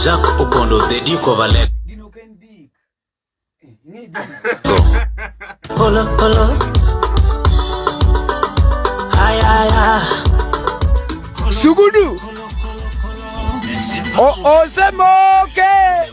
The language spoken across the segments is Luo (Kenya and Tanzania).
Jacques Opondo, the Duke of Alego. Polo, polo. Ay, ay, ay. Sugudu. O, o, se moke.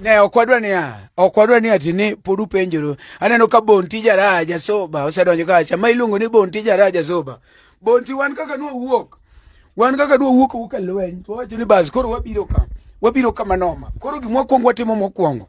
Ne ok wadwa niya, ok wadwa ni ati ni pod upenjoru. Aneno ka Bonti Jaraha Jasoba osedonjo kacha, ma iluongo ni Bonti Jaraha Jasoba. Bonti wan kaka nwa wuok, wan kaka nwa wuok wuka lweny, to wacho ni bas koro wabiro ka, wabiro ka manoma. Koro gimwa kwongo watimo mokwongo.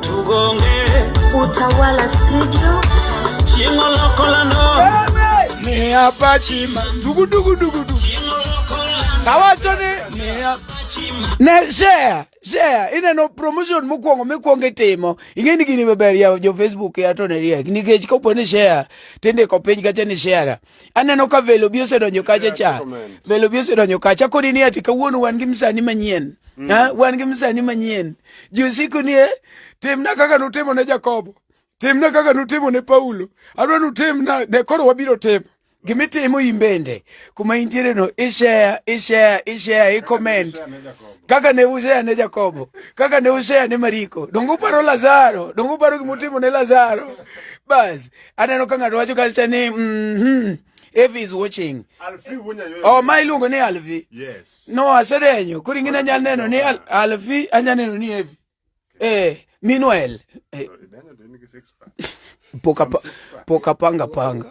Tugonge Utawala Studio Chingo lokola no Ni hapa chima Dugu dugu dugu dugu Chingo lokola Kawacho ni Ni hapa chima Ne share share ineno promotion mokwongo mikwongo itimo ing'e ni gini maber yawo jo facebook ya to ne riek nikech kopo ni share tindiko piny kacha ni share Aneno ka velo bi osedonjo kacha cha. Velo bi osedonjo kacha kodi ni ati kawuono wan gi msani manyien. Mm. Ha, wan gi msani manyien. Ji usiku ni eh, timna kaka nutimo ne Jakobo. Timna kaka nutimo ne Paulo. Adwa nutimna ne koro wabiro timo. Gimitimo in bende kuma intiere no ishare ishare ishare i comment kaka ne ushare ne Jakobo kaka ne ushare ne Mariko dongo paro Lazaro dongo paro gimutimo ne Lazaro bas aneno ka ng'ato wacho kacha ni mhm if is watching oh ma iluongo ni alvi yes no aserenyo kuri ngina nya neno ni alvi anya neno ni evi eh meanwhile eh. poka poka panga panga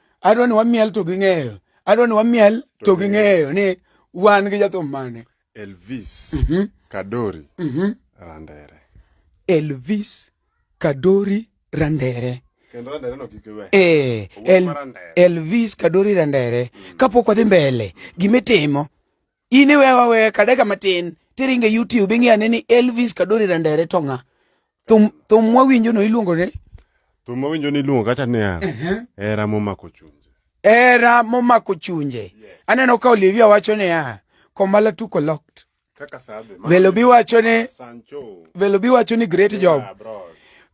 adwa ni wamiel to ging'eyo adwa ni wamiel to ging'eyo ni wan gi jathum mane elvis mm -hmm. kadori mm -hmm. randere elvis kadori randere Eh, el, Elvis Kadori Randere mm. kapok wadhi mbele gimitimo In iwe wawe kadeka matin tiringe YouTube ing'e ane ni Elvis Kadori Randere to ng'a. Thum thum mwawinjo no iluongo ne Thum mwawinjo ni iluongo kata niya. Era momako chunje. Era momako chunje. Aneno ka Olivia wacho niya komala tuko locked. Kaka sabe. Velo bi wacho ni Sancho. Velo bi wacho ni great job. Yeah, bro.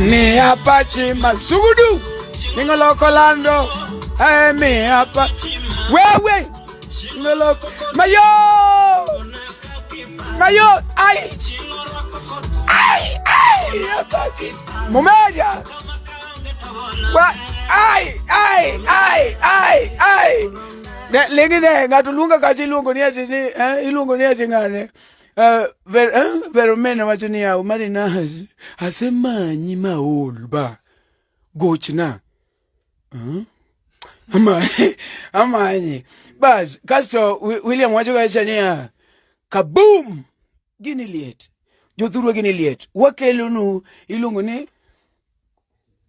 Mia pachi masugudu ningoloko lando eh, mia pachi wewe ningoloko mayo mayo ai ai ai mia pachi mumeja wa ai ai ai ai ai lingine ngatulunga kachiluongo ni ati ni eh, iluongo ni ati ngane Ah, Ver- ah, Veromena wacho niya, Omari na asemanyi maol ba gochna. Ah, ama- Amanyi. Bas, kasto Wi- William wacho kacha niya, kaboom! Gini liet. Jothurwa gini liet. Wakelonu iluongo ni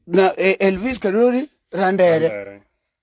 na, eh, Elvis Karori Randere. Randere.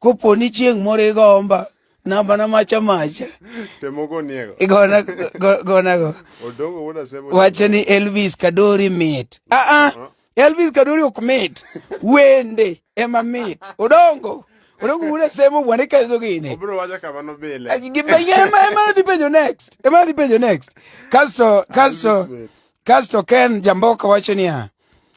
Kopo ni chieng' moro igomba namba na macha macha igona gona go wacho ni Elvis Kadori mit a ah, a ah. uh-huh. Elvis Kadori ok mit wende ema mit odongo odongo wuda semo bwana ikazo gini obro wacha kama no bile gimbe ema ema dhi penjo next ema dhi penjo next kasto kasto kasto Ken Jamboka wacho niya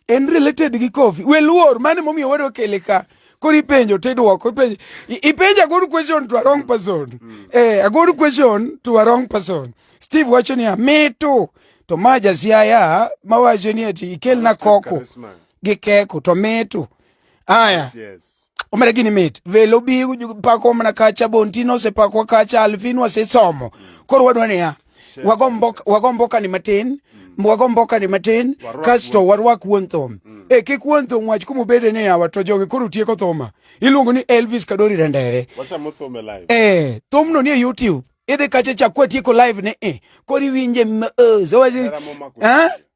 en related gi coffee we luor mane momiyo wado kele ka koro ipenjo tidwoko ipenjo ipenjo a good question to a wrong person mm. eh, a good question to a wrong person steve wacho niya mito to ma jasiaya mawacho ni ati ikelna koko gi keko to mito Aya. Yes, yes. omera gini mit velo bi pako mana kacha bontino osepakwa kacha alvin wasesomo koro wadwa niya wagombo kani matin mm. wagombo kani matin kasto warwak wuon thum mm. e kik wuon thum wach kuma obede ni yawa to jogi koro tieko thuma iluongo ni elvis kadori rendere e eh, thumno ni e youtube idhi kacha chakwa tieko live ni e eh, koro iwinje mos eh,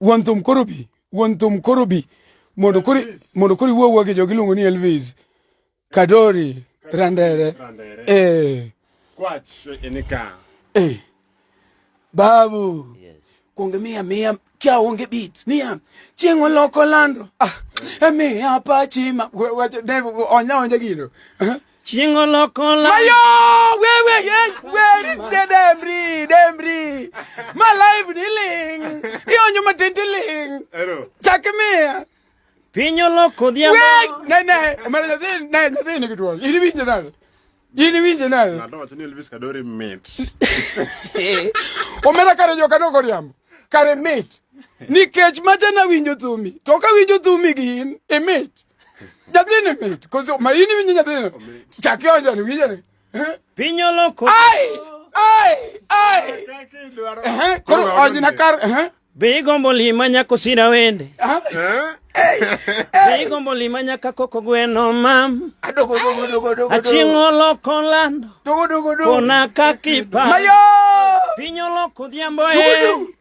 wuon thum koro bi wuon thum koro bi mondo koro mondo koro iwuo gi jogi luongo ni Elvis Kadori Randere eh kwach enika eh babu yes kuonge miya miya kia onge beat niya chieng' oloko lando ah emiya pachima onya onja gino Chingo loko la. Mayo wewe ye wewe de demri demri. My life dealing. Iyo nyuma tintiling. Ero. Chakmea. Pinyo loko dia. Wait, ne ne, mara ne ne ne ne kitu. Ili vinje nalo. Ili vinje nalo. Na ndo tuni Elvis Kadori mate. Omera kare joka no koriam. Kare mate. Nikech macha na winjo tumi. Toka winjo tumi gin e mate. nyathini mit koso maini winjo nyathini chak ionjani winjani eh? piny oloko ai ai ai eh, koro onjna kar eh? be igombo lima nyako sira wende be igombo lima nyaka koko gweno mam achieng' oloko lando kona kakipa piny oloko dhiambo e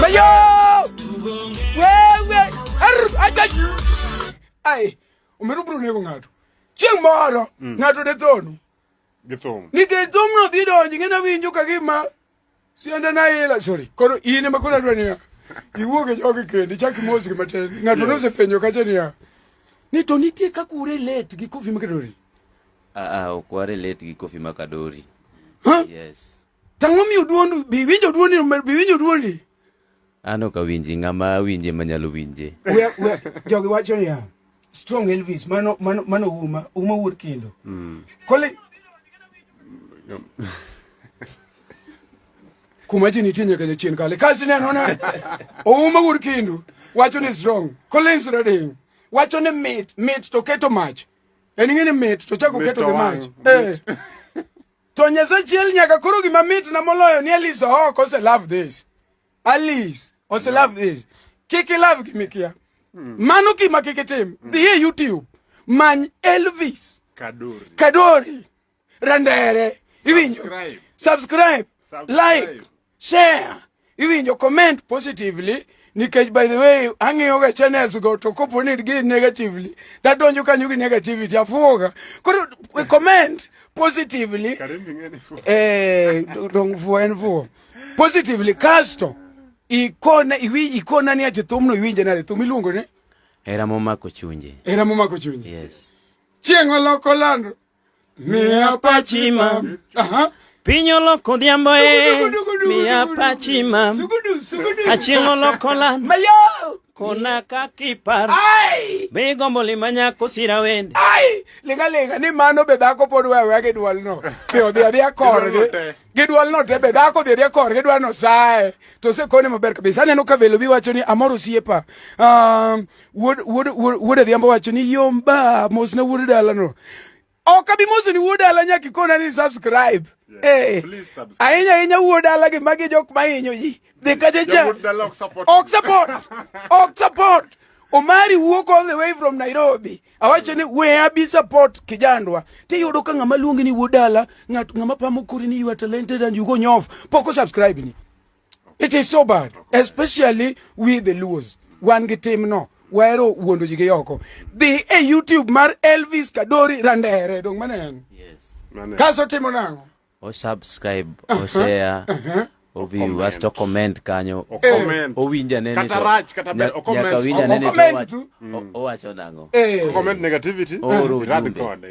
Mayo! Wewe! Arr! Ajaj! Ai, umeruburu nego ng'ato. Chieng' moro, mm. ng'ato de thonu. Githum. Nikech thumno dhi donji ng'e nawinjo ka gima Sienda na ila sorry. Koro in ema koro adwa niya. Iwuog e jogi kendi chak mosgi matin. Ng'ato Yes. nosepenjo kacha niya. Ni to nitie kaka urelate gi Koffi Makadori. Ah, ah, ok warelate gi Koffi Makadori. Ha? Yes. Tang'o miyo duondi, bi winjo duondi, bi winjo duondi. An ok awinji, ng'ama awinje ma nyalo winje. We we jogi wacho niya, strong Elvis mano mano mano uma uma wuod kendo. Mm. Kole kuma ji nitie nyaka jachien kale kasi neno na ouma wuod kendo wacho ni strong. Collins Redding wacho ni mit mit to keto mach. En ng'e ni mit to chako keto gi mach. Eh. To Nyasaye chiel nyaka koro gima mitna moloyo ni Alice Ohoko ose love this. Alice ose love this. Kik ilove gi mikia. Hmm. Mano gima kik itim. Hmm. Dhi e YouTube many Elvis Kadori. Kadori. Randere. Iwinjo. Subscribe. Subscribe. Like. Share, iwinjo comment positively nikech by the way ang'iyoga channels go to kopo ni gi negatively tadonjo kanyo gi negativity afuoga koro eh, comment positively eh dong fuo en fuo positively kasto ikona iwi ikona ni ati thumno iwinje nade thum iluongo ni era momako chunje era momako chunje yes chieng' oloko lando Mia pachima. Aha. Piny oloko odhiambo e. Mia pachima. Sugudu, sugudu. Achieng' oloko lan. Mayo. Kona kakipar. Ai. Be gombo lima nyako sira wende. Ai. Linga linga ni mano be dhako pod wewe gi dwol no. Be odhi adhiya korgi. Gi dwol no te be dhako odhi adhiya korgi dwa no sae. To se kone maber kabisa. Aneno ka velo bi wacho ni amoro siepa. Um, wuod wuod wuod adhiambo wacho ni yom ba mosna wuod dalano ok abi moso ni wuod dala nyaka ikona ni subscribe eh, ahinya ahinya wuod dala gi magi jok mahinyo ji dhi kacha cha ok support ok support Omari wuok all the way from Nairobi. Awacho ni we abi support kijandwa. Ti yudo ka ng'ama luongi ni wuod dala, ng'at ng'ama pamo kuri ni you are talented and you go nyof. Poko subscribe ni. It is so bad, especially we the Luos. Wan gi tim no, wahero wuondo ji gi oko. Dhi e YouTube mar Elvis Kadori Randere, dong mane en? Yes. Kaso timo nango? O subscribe, o uh-huh. share. Uh-huh. Oviu, asto comment kanyo. O comment. Owinja nene. Kata rach, kata ber, o comment. Nyaka winja nene. O- Owacho nang'o? Eh. Comment negativity. Oro Rad ujumbe. kode.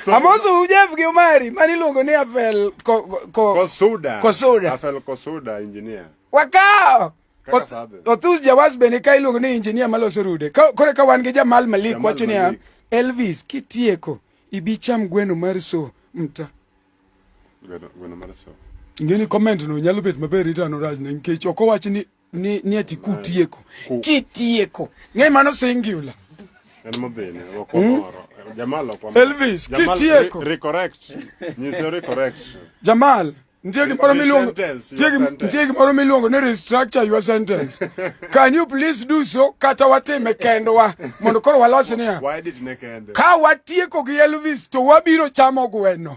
Amoso Ujef gi Omari mani iluongo ni Afel ko, ko, ko, Kosuda. Kosuda. Afel Kosuda engineer. wakawo Kaka Oth- sadhe. Othus Jawas bende ka iluongo ni injinia maloso rude. Ka- Koro ka wan gi Jamal Malik Jamal wacho niya Malik. Elvis kitieko ibi cham gweno mar so mta. Gweno gweno mar so. Ngeni comment no nyalo bet maber itano raj ne nikech ok owach ni ni, ni ati kutieko kitieko ng'e mano singular en mabene wakomoro hmm? jamal wakomoro elvis kitieko recorrect nyiso recorrect jamal nitie gimoro miluongo nitie gimoro miluongo ni restructure your sentence can you please do so kata watime kendwa mondo koro walos niya ka watieko gi elvis to wabiro chamo gweno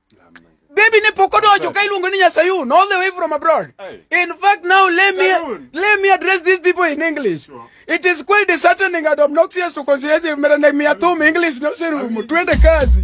Baby ne pok odonjo ka iluongo ni Nyasayun all the way from abroad. In fact now let me let me address these people in English. It is quite disheartening and obnoxious to consider them mera na miatum English no seru twende kazi.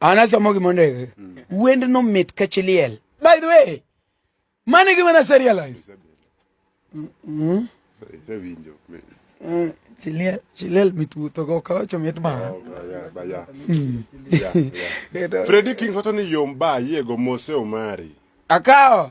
an asomo gima ondiki mm. wend no mit ka chiliel by the way mano e gima nase realize mm-hmm. mm, chiliel mit wuthogo kawacho mit mana oh, mm. fredi king wacho ni yom ba yiego mose omari akawo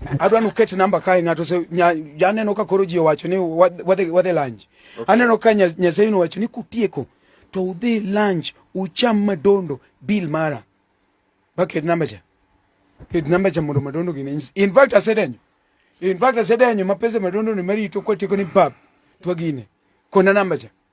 adwa nuket namba kae ng'ato se aneno ka koro ji owacho ni wadhi wadhi lunch okay. aneno ka nyasaye nowacho ni kutieko to udhi lunch ucham madondo bill mara baket namba cha ket namba cha mondo madondo gine in fact asedenyo in fact asedenyo mapesa madondo ni marito kwatieko ni bab twagine kona namba cha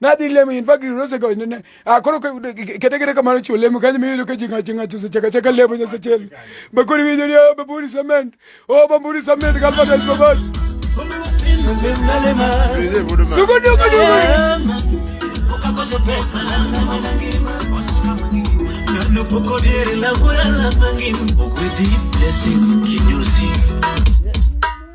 nadhi lemo in fact rose go ne akoro kete kete kamaro chu lemo kanyo miyo ka jinga jinga chu chaka chaka lemo nyasa chel bakuri wiyo ni oba buri cement oba buri cement kalpa dal babas suko duko duko ukakosa pesa na mwana ngima no poco dire la buena la mangim poco di blessings kinyosi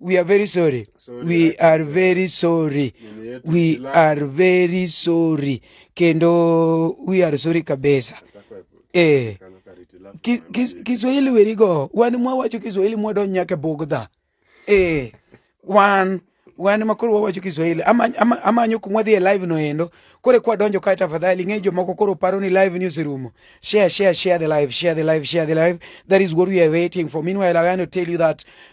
we are very sorry Sorry, we I- are very sorry Mimi yetu we ila- are very sorry kendo we are sorry kabisa Atakwa epo- eh kano kariti lafu Ki- mama kis- yetu. kiswahili werigo wan mwawacho kiswahili mwadonj nyaka e bugdha eh wan wan ma koro wawacho kiswahili Ama- ama- amanyo kuma dhi e live no endo koro kwa donjo kae tafadhali ng'e jomoko koro paro ni live ni oserumo share share share the live share the live share the live that is what we are waiting for meanwhile i want to tell you that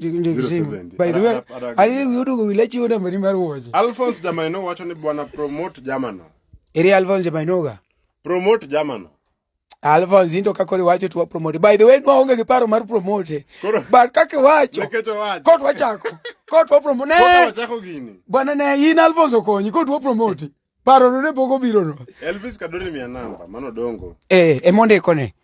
070. By the way, Ara- ara- ara- ali yudo go wilachi wona mani mar woje. Alphonse Damaino wacho ni bwana promote jamano. Eri Alphonse Mainoga. Promote jamano. Alphonse into kako riwacho tuwa promote. By the way, nwaonge gi paro mar promote. Koro But kake wacho, nekech owacho. kot wachako. Kot wa promote. Koka Ne, wachako gini. bwana ne in Alphonse okonyi, kot wa promote. parono ne pok obirono Elvis Kadori mia namba mano dongo. eh, emondikone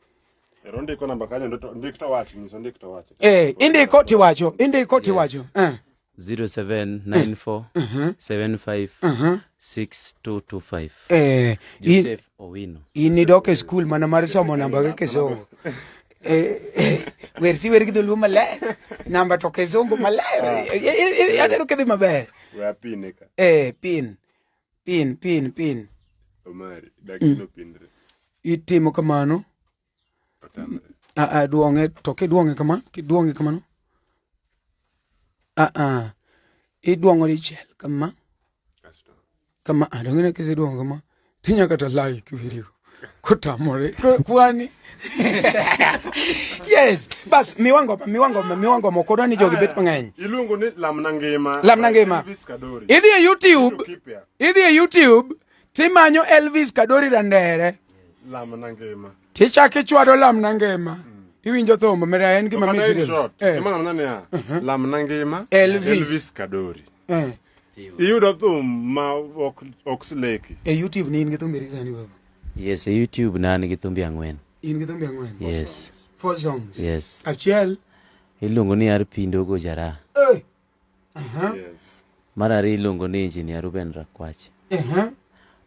Ero ndiko namba kanyo ndo to- ndik to wach nyiso ndik to wach. eh, indiko tiwacho indiko tiwacho eh. 0794 mhm, 75 mhm. 6225 Eh, in- Joseph Owino in idok e skul mana mar somo namba gi kisungu Eh, eh, wer si wer gi dholuo maler namba to kisungu maler Eh, eh, eh, aneno kidhi maber We apine ka. eh, pin pin pin pin Omari, dakino pindre. itimo kamano Otamre. a a duong'e to kiduong'e kama kiduong'e kamano a a iduong'o dichiel kama Kasto. kama a dong'e kiseduong'o kama tinya kata like video kutamore ku- kwani yes bas miwango miwango miwango moko dwani jogi bet mang'eny iluongo ni lamna ngima Lamna Ngima. Elvis Kadori. idhi e youtube Kido kipya. idhi e youtube timanyo elvis kadori randere lamna ngima tichak ichwado lamna ngima iwinjo thumbo mera en gima Kata in misri short, Eh, gima ng'amna niya, lamna ngima Elvis. elvis kadori eh. Iyudo thum ma ok ok sleki. E YouTube ni in gi thumbe adi sani baba? Yes, e YouTube na an gi thumbe ang'wen. In gi thumbe ang'wen? Yes. Four songs. Yes. Achiel iluongo ni Ar Pindo Gojara. Eh. Aha. Yes. Mar ariyo iluongo ni Engineer Ruben Rakwach. Aha.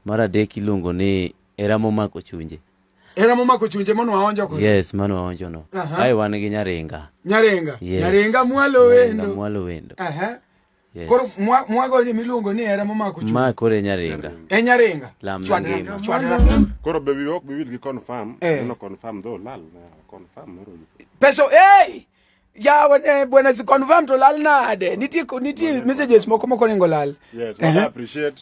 Mar adek iluongo ni Era momako chunje. Era momako chunje mano waonjo ko. Yes, mano waonjo no. Aha. Ai wan gi Nyaringa. Nyaringa. Yes. Nyaringa mwalo wendo. Nyaringa mwalo wendo. Aha. Yes. koro mwa- mwagoni miluongo ni hera momako chuth Ma koro e nyaringa. e nyaringa Lam na Chwadra- ngima. chwadra. Koro be we ok biwil gi confirm. Eh. Neno confirm dho lal na confirm moro. pesa hey! yawa ne bwana si confirm to lal nade nitie ko- nitie messages moko moko nengo lal Yes, what I appreciate.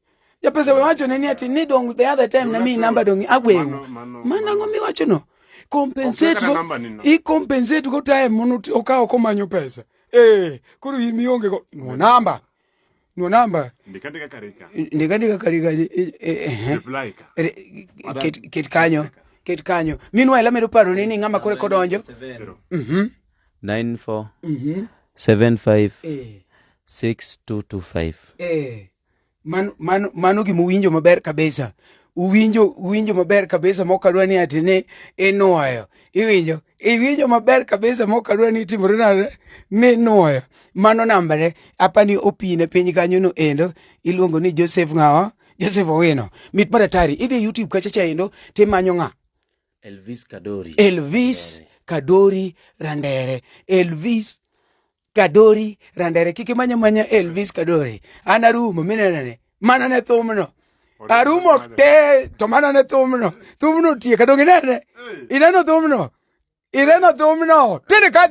japesa we wacho ne ni ati ni dong the other time na mi namba dong agwewu Mano- mano- mana mano. ngo mi wacho no compensate Okeka go namba ni no. i compensate go time mono ti- okawo komanyo pesa eh koro in mionge go no namba no namba ndikandika karika ndika ndika kali kali eh, eh, eh. reply ka Re- ket- ket kanyo ket kanyo meanwhile amedo paro ni ni ng'ama kore kodonjo Pero, mhm 94 mhm 75 eh 6225 eh Mano, mano, mano gima uwinjo maber kabisa uwinjo uwinjo maber kabisa mokadwa ni ati ni inuoyo iwinjo iwinjo maber kabisa mokadwa ni timore nade ni inuoyo mano nambare apani opine piny kanyo no endo iluongo ni joseph ng'awa joseph owino mit mar atari idhi youtube kacha cha endo timanyo ng'a Elvis Kadori. Elvis Randere. Kadori Randere. Elvis Kadori Randere. Kik imanya manya Elvis Kadori. An arumo minenene. Mana ne thumno. Arumo te to mana ne thumno. Thumno tieka donge inene. Ineno thumno. Ineno thumno. Tende ka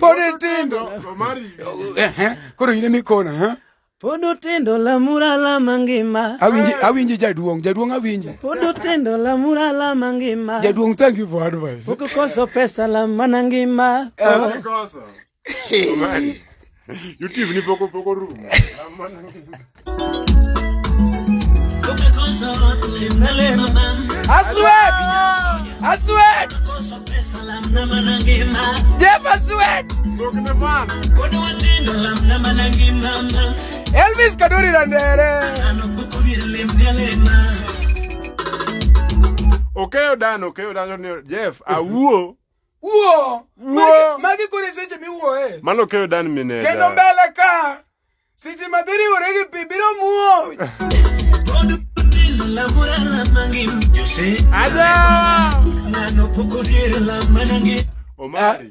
Pod itindo. Ehe, Koro in emikona, ha? Pod utindo lamura lama ngima. Awinji awinji jaduong', jaduong' awinji. Pod utindo lamura lama ngima. Jaduong' thank you for advice. Pok ukoso pesa lamana ngima. Oh. Omari. YouTube ni poko poko room. I sweat! I sweat! Jeff, I sweat! Elvis Kaduri Landere! Okeyo dan, okeyo dan, Jeff, awuo. Uo! Uo! Magi kore seche miwuoe. Mano okeyo dan mineda. Kendo mbele ka! Si ji ma dhi riwore gi pi biro muoch. Omari,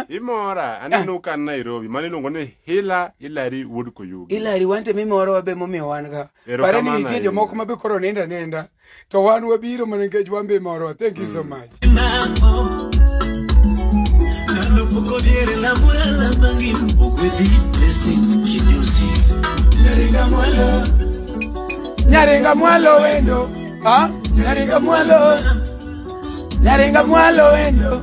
imora aneno ka an Nairobi mane iluongo ni Hila Hilary Wood Koyugi. Hilary wante mimorowa be momiyo wan ka. Pare ni Erokamano nitie ahinya. jomoko ma be koro nindo aninda. to wan wabiro mana nikech wan be morwa thank you so mm. much nyaringa mwalo wendo ah, nyaringa mwalo nyaringa mwalo wendo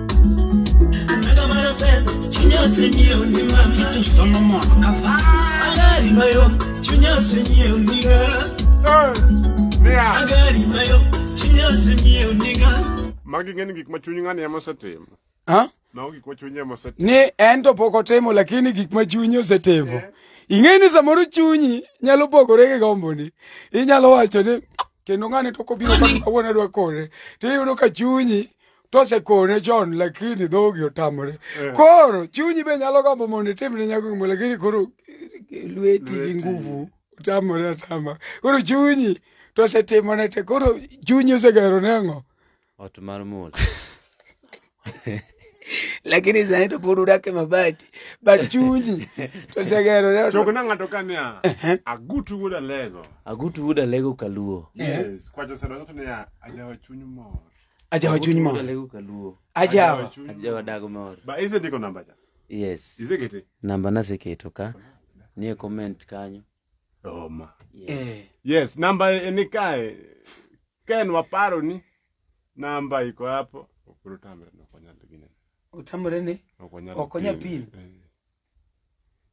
Anaga mara fen, chunya senye unima. Kitu somo mo kasa. Agari mayo, chunya senye uniga. Agari mayo, chunya senye uniga. Magi ng'eni gik ma chuny ng'ani ema osetimo. Ha? Mago gik ma chuny ema osetimo. Ni en to pok otimo lakini gik ma chuny osetimo. Eh. Ing'e ni samoro chunyi nyalo pogore gi gomboni. Inyalo wacho ni kendo ng'ani to kobiro kawuono adwa kore. Tiyudo ka chunyi tosekone chon lakini dhogi otamore Eh. koro chunyi be nyalo gombo mondo itim ne nyako gimoro lakini koro eh, lweti gi Lweti. nguvu otamore atama koro chunyi tosetimone te koro chunyi osegero ne ang'o Ot mar mula. lakini sani to pod udak e mabati but chunyi tosegero ne Choko na ng'ato ka niya, agutu wuod alego. Agutu wuda lego kaluo. Yes, kwacho sero to niya, ajawa chuny mor. Ajawa chuny mor. Lego ka luo. Ajawa. Ajawa dago mor. Ba ise ndiko namba cha? Yes. Ise kete? Namba naseketo ka. Nie comment kanyo. Roma. Yes. Eh. Yes, namba e ni kae. Ken waparo ni namba iko hapo. Okuru tamre no konyal gine. Utamre ni? Okonyal pin. Eh.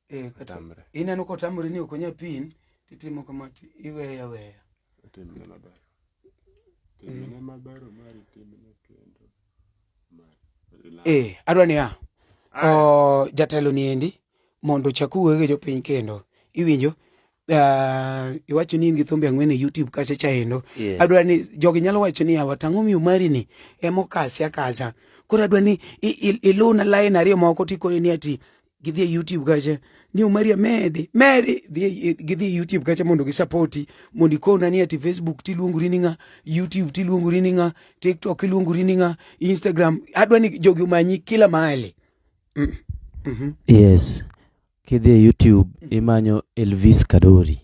Eh, kata Otamre. ineno kotamore ni ok onya pin titimo kama ti iweya weya Timne maber. Timne maber omari timne kendo. Omari. eh adwa niya o jatelo ni endi mondo ochak wuoyo gi jopiny kendo iwinjo ah, iwacho ni in gi thumbe ang'wen e youtube kacha chaendo Yes. adwa ni jogi nyalo wacho ni awa tang'o miyo mari ni ema okasi akasa koro adwa ni i- i- iluna lain ariyo moko tikone ni ati gidhi e youtube kacha ni omari amedi medi dhi e- gidhi e youtube kacha mondo gisapoti mondo ikona ni ati facebook tiluongori ni ng'a youtube tiluongori ni ng'a tiktok iluongori ni ng'a instagram adwa ni jogi omanyi kila mahali mm. mm-hmm. yes Kidhi e YouTube imanyo Elvis Kadori.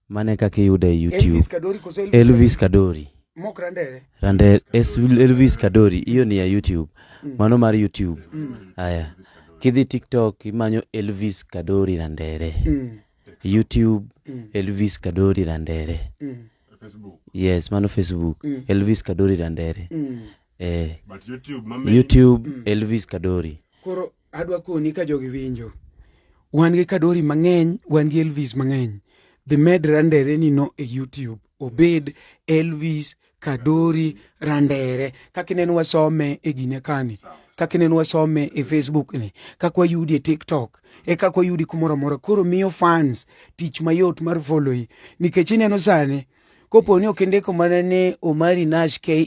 Mano e kaka iyuda e YouTube. Elvis Kadori koso Elvis, Elvis Kadori. Mok Randere. Rande es Elvis Kadori hiyo ni ya YouTube. Mano mar YouTube. Haya. Kidhi TikTok imanyo Elvis Kadori Randere. Mm. YouTube Mm. Elvis Kadori Randere. Mm. Facebook. Yes, mano Facebook. Mm. Elvis Kadori Randere. Mm. Eh, But YouTube, mama. YouTube Elvis Kadori. Koro adwa koni ka jogi winjo wan gi kadori mang'eny wan gi elvis mang'eny the med randere nino e youtube obed elvis kadori randere kaka ineno wasome e gine kani kaka ineno wasome e facebook ni kaka wayudi e tiktok e kaka wayudi kumoro amora koro miyo fans tich mayot mar followi nikech ineno sani kopo ni ok indiko mana ni omari nash ke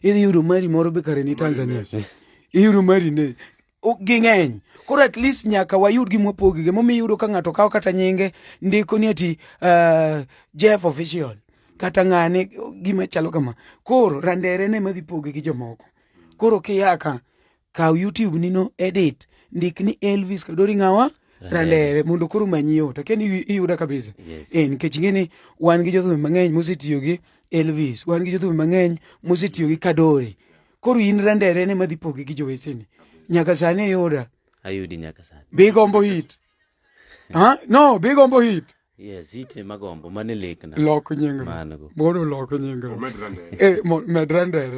idhi yudo mari moro be kare ni tanzania iyudo mari ne O- ging'eny koro at least nyaka wayud gima wapogi gimomiyo iyudo ka ng'ato kawo kata nyinge ndiko ni ati uh, jeff official kata ng'ane gima chalo kama koro randere ne madhi poge gi jomoko koro kiyaka kaw youtube nino edit ndik ni elvis kadori ng'awa randere mondo koro manyi yot akia ni iyuda kabisa Yes. eh, nikech ing'e ni wan gi jothumbe mang'eny mosetiyo gi elvis wan gi jothumbe mang'eny mosetiyo gi kadori koro in randere ne madhi pogi gi joweteni nyaka sani iyuda ayudi nyaka sani be igombo hit ha no be igombo hit Yes, ite magombo mane lekna. Lok nyingno. Mango. Mondo lok nyingno. Omed Randere. Eh, mo- med Randere.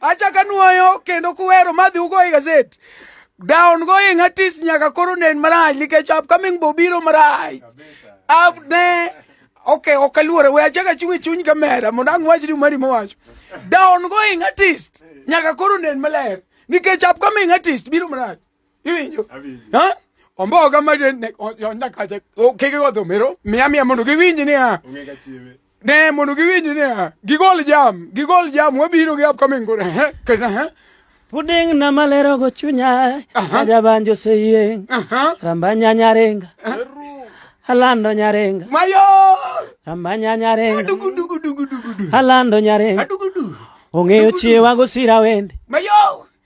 achaka nuoyo kendo kuwero madhi ugo e gazet down going artist nyaka koro nen marach nikech upcoming bobiro marach up ne okay ok aluore we achaka chung' e chuny kamera mondo ang' wach ni mari mowacho down going artist nyaka koro nen maler nikech upcoming artist biro marach iwinjo omboga mane onda kacha keke go dhomero miya miya mondo giwinj niya ne mondo giwinj niya gigol jam gigol jam wabiro gi upcoming gore kata Puding na malero go chunya Aja banjo se yeng Rambanya nyarenga Alando nyarenga Mayo Rambanya nyarenga Dugu dugu dugu dugu Alando nyarenga Dugu dugu Ong'eyo chiewa gosira wende Mayo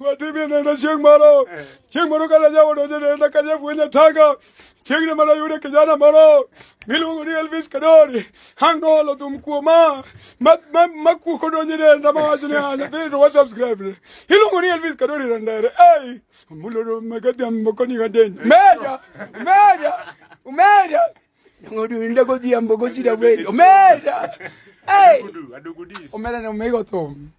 watibye nenda chieng' moro chieng' moro kane jaoda osenenda ka jafwenya taka chieng' ne mana yude kijana moro miluongo ni elvis kadori ang' noolo thum kuoma ma- ma- makuo kodonjo e denda mawacho ni "Ah, nyathini to wasubscribe ne iluongo ni elvis kadori randere ei mulodo megadhiambo koniga deny meja meja meja ng'odinda godhiambo gosira wendo meja ei omera ne omego thum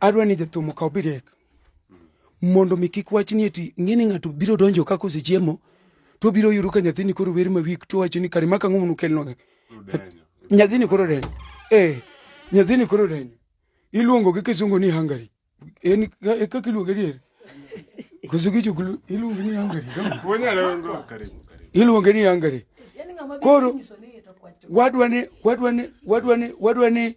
adwa ni jathum okaw birek mondo mi kik wach ni eti ng'eni ng'ato biro donjo kaka osechiemo to obiro yudo ka nyathini koro wer mawik to wacho ni kare maka ng'umu nukelnwa ga nyathini koro denyo eh nyathini koro denyo iluongo gi kisungu ni hungary en e kaka iluonge dier koso kichukulu iluonge ni hungary iluonge ni hungary koro wadwa ni wadwa ni wadwa ni wadwa ni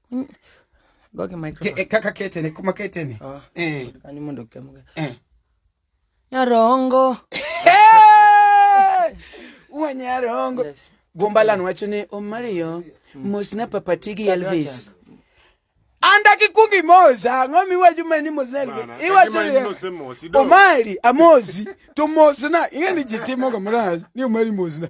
Gogi Ke- microphone. eh, kaka ketene kuma ketene Ah, Eh, kani mondo kemga. eh. Nyarongo. wanyarongo Yes. gombalan wacho ni omario mosna papatigi elvis anda kikwongo imosa ang'o miwacho ma ni mosna elvis Bana, iwacho kagima in ni nosemosi, do. omari amosi to mosna ing'e ni ji timoga marach ni omari mosna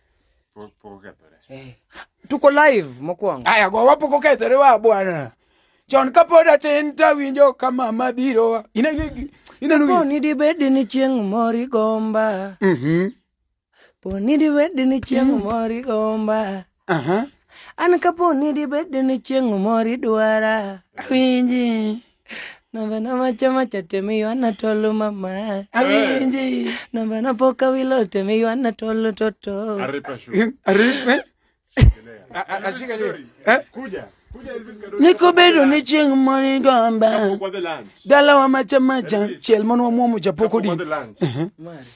Pok pok okethore. Eh. Tuko live mokwongo. Aya go wapok okethore wa bwana. Chon kapod atin tawinjo ka mama biro. Ineno ineno Kapo ni dibed ni chieng' moro igomba, Mhm. po ni dibed ni chieng' moro igomba, Aha. an kapo ni dibed ni chieng' moro idwara, Awinji. Namba na macha macha temi wana tolo mama. Awinji. Namba na poka wilo temi wana tolo toto. Aripa shu. Aripa. Ashika lori. Eh? Kuja. Niko bedo ni chieng' moni gomba. Dala wa macha macha. Chiel mon wa muomo japoko din.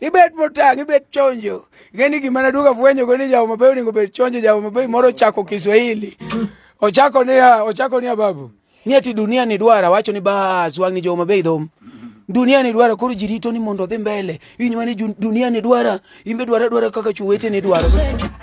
ibed motang' ibed chonjo ing'eni gima naduogo afwenyogo ni jawo mabeyo onego bed chonjo jawo mabeyo moro ochako kiswahili ochako niya ochako niya babu ni ati dunia ni dwara wacho ni bas wang' ni jowo mabeyo idhom dunia ni dwara koro ji rito ni mondo odhi mbele inywa ni ju- dunia ni dwara imbe dwara dwara kaka chuwete ni dwaro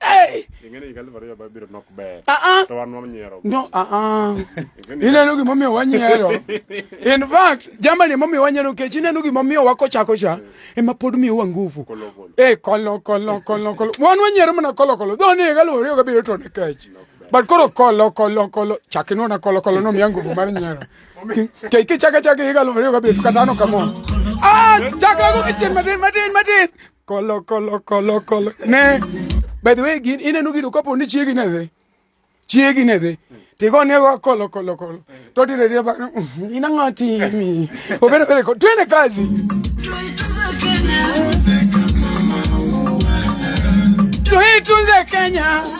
Hey! Ing'eni higa aluf ariyo mabiro nok ber. Ah ah. To wan wanyiero. No, ah ah. Ing'eni- Ineno gimomiyo wanyiero. In fact, jamani emomiyo wanyiero kech ineno gimomiyo wakochako cha ema pod miyowa nguvu. Kolo kolo. Eh, kolo kolo kolo kolo. Wan wanyiero mana kolo kolo. Dho ni galo oriyo gabiro to ne kech. But koro kolo kolo kolo chakinwa na kolo kolo no miya nguvu mar nyiero. Kech kichaka chaka higa aluf ariyo gabiro kata ano kamo. Ah, chakra go kichien matin matin matin. Kolo kolo kolo kolo. Ne. By the way, gin ineno gino kapo ni chiegi ne dhi. Chiegi ne dhi. Tigo ne go kolo kolo kolo. To dire dire ba ina ngati mi. Obere bere ko twende kazi. Tuitunze Kenya.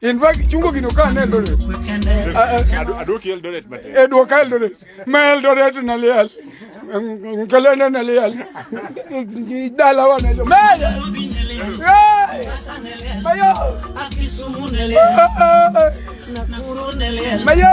In fact, chungo gino ka ne Eldoret. Aduoki Eldoret matin. E duoka Eldoret. Ma Eldoret na liel. Kelene na liel. Dala wa na jo. Mele. Mayo. Akisumu na liel. Nakuru na liel. Mayo.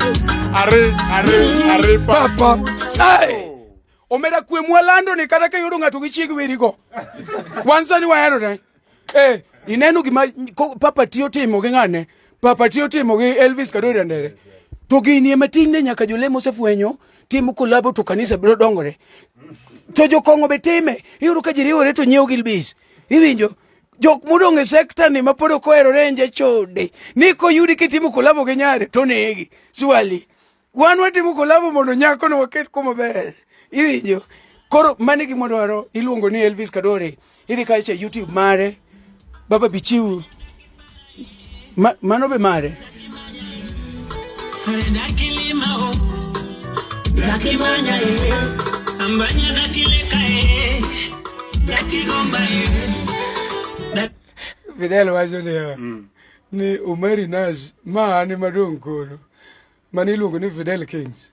Are, are, are, papa. Hey! omera kwe mwalando ni kata ka yudo ng'ato gi chieg werigo wan sani wahero ne eh, ineno gima ko- papa tiyo timo gi ng'ane papa tiyo timo gi elvis kadoira ndere to gini ema tinne nyaka jolemo osefwenyo timo kolabo to kanisa biro dongore to jokong'o be time iyudo ka ji riwore to nyiewo gilbis iwinjo jok modong' e sekta ni mapod ok ohero renje chode ni koyudi kitimo kolabo gi nyare to negi swali wan watimo kolabo mondo nyako no waket kuma ber iwinjo koro mane gima dwaro iluongo ni elvis kadore idhi kacha youtube mare baba bichiu Ma, mano be mare. Dakimanya e, ambanya dakileka e, dakigomba e. Fidel wacho niya ni Omari Nash ma an ema dong' koro mane iluongo ni Fidel Kings.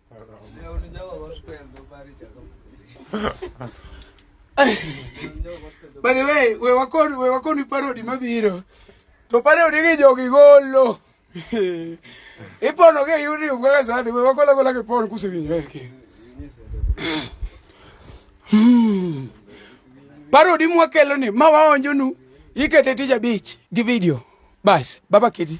By the way, we wakon we wakoni parody mabiro. To parody gi jogi golo. Ipono ke yuri ugaga sadi we wakola kola ke pon kusivinyo yake. Hmm. Parody mwakelo ni mawaonjonu ikete tich abich gi video. Bas, baba kiti.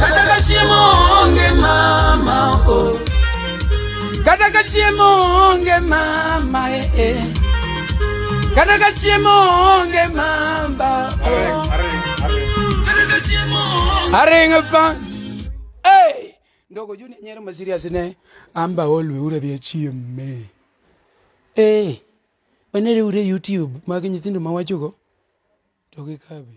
Kata ka chiemo onge mama o Kata ka chiemo onge mama e e Kata ka chiemo onge mama o Kata ka chiemo onge Aringa pa Hey Ndogo juni nyero ma serious ne amba olwe ura dhi chiemme Eh Wanere ure YouTube mag nyithindo ma wachogo to gikabi